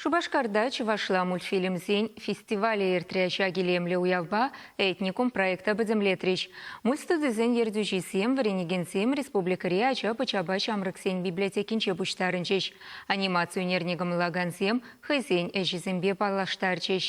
Шупашкарта чӑвашла мультфильмсен фестивалӗ иртрӗ. Ҫак илемлӗ уявпа «Этникум» проекта пӗтӗмлетрӗҫ. Мульт студисен ертӳҫисем вӗренекенсем республикӑри ача-пӑчапа ҫамрӑксен библиотекинче пуҫтарӑнчӗҫ. Анимаци ӳнерне кӑмӑллакансем хӑйсен ӗҫӗсемпе паллаштарчӗҫ.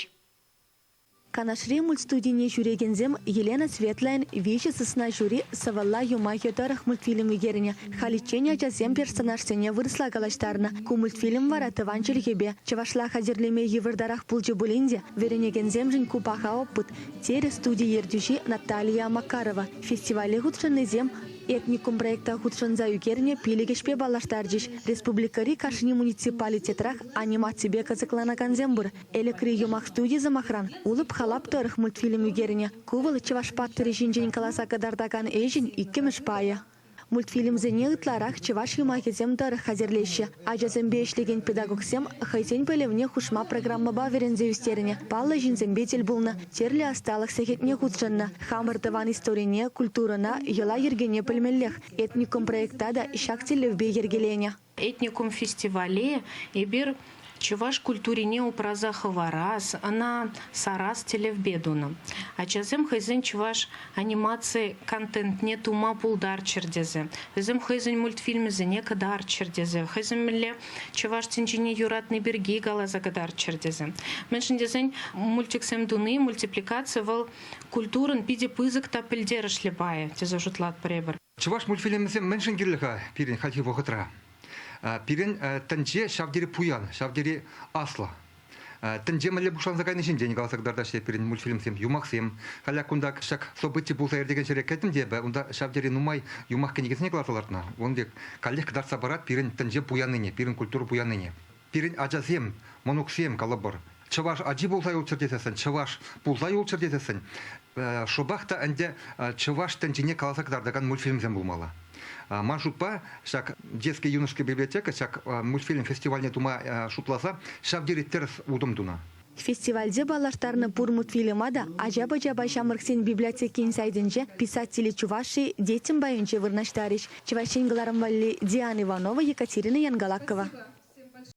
Канашри мультстудине ҫӳрекенсем Елена Светлӑйӑн виҫӗ сысна ҫури сӑвӑлла юмахӗ тӑрӑх мультфильм ӳкернӗ. Халиччен ачасем персонажсене вырӑсла калаҫтарнӑ. Ку мультфильм вара тӑван чӗлхепе, чӑвашла хатӗрлеме йывӑртарах пулчӗ пулин те, вӗренекенсемшӗн ку паха опыт, терӗ студи ертӳҫи Наталия Макарова. Фестивале хутшӑннисем Этникум проекта хутшӑнса ӳкернӗ пилӗк ӗҫпе паллаштарчӗҫ. Республикӑри кашни муниципалитетрах анимаципе кӑсӑкланакансем пур. Элӗкри юмах студи, сӑмахран, Улӑп-халап тӑрӑх мультфильм ӳкернӗ. Ку вӑл чӑваш паттӑрӗ ҫинчен каласа кӑтартакан ӗҫӗн иккӗмӗш пайӗ. Мультфильмсене ытларах чӑваш юмахӗсем тӑрӑх хатӗрлеҫҫӗ. Ачасемпе ӗҫлекен педагогсем хӑйсен пӗлӗвне хушма программӑпа вӗренсе ӳстернӗ, паллӑ ҫынсемпе тӗл пулнӑ, тӗрлӗ ӑсталӑх сехетне хутшӑннӑ. Хамӑр тӑван историне, культурӑна, йӑла-йӗркене пӗлмеллех. Этникум проекта та ҫак тӗллевпе йӗркеленӗ. Этникум фестивале эпир чӑваш культурине упраса хӑварас, ӑна сарас тӗллевпе тунӑ. Ачасем хӑйсен чӑваш анимаци контентне тума пултарччӑр тесе, вӗсем хӑйсен мультфильмӗсене кӑтартчӑр тесе, хӑйсем мӗнле чӑваш тӗнчине юратни пирки каласа кӑтартчӑр тесе. Мӗншӗн тесен мультиксем туни, мультипликаци вӑл культурӑн питӗ пысӑк та пӗлтерӗшлӗ пайӗ тесе шутлатпӑр эпир. Чӑваш мультфильмӗсем мӗншӗн кирлӗ-ха пирӗн хальхи вӑхӑтра? Пирӗн тӗнче ҫав тери пуян, ҫав тери аслӑ. Тӗнче мӗнле пуҫланса кайни ҫинчен каласа кӑтартаҫҫӗ пирӗн мультфильмсем, юмахсем. Халӗ кунта ҫак событи пулса иртекен ҫӗре кӗтӗм те эпӗ, унта ҫав тери нумай юмах кӗнекисене кӑларса лартнӑ. Ун пек каллех кӑтартса парать пирӗн тӗнче пуяннине, пирӗн культура пуяннине. Пирӗн ачасем, мӑнуксем, калӑпӑр, чӑваш ачи пулса юлччӑр тесессӗн, чӑваш пулса юлччӑр тесессӗн, шӑпах та ӗнтӗ чӑваш тӗнчине каласа кӑтартакан мультфильмсем пулмалла. Ман шутпа, ҫак Детская юношеская библиотека ҫак мультфильм фестивальне тума шутласа ҫав тери тӗрӗс утӑм тунӑ. Фестивальте паллаштарнӑ пур мультфильма та ача-пӑчапа ҫамрӑксен библиотекин сайтӗнче писатели чувашии детям пайӗнче вырнаҫтарӗҫ, Чӑваш Ен кӑларӑм валли, Диана Иванова, Екатерина Янгалакова.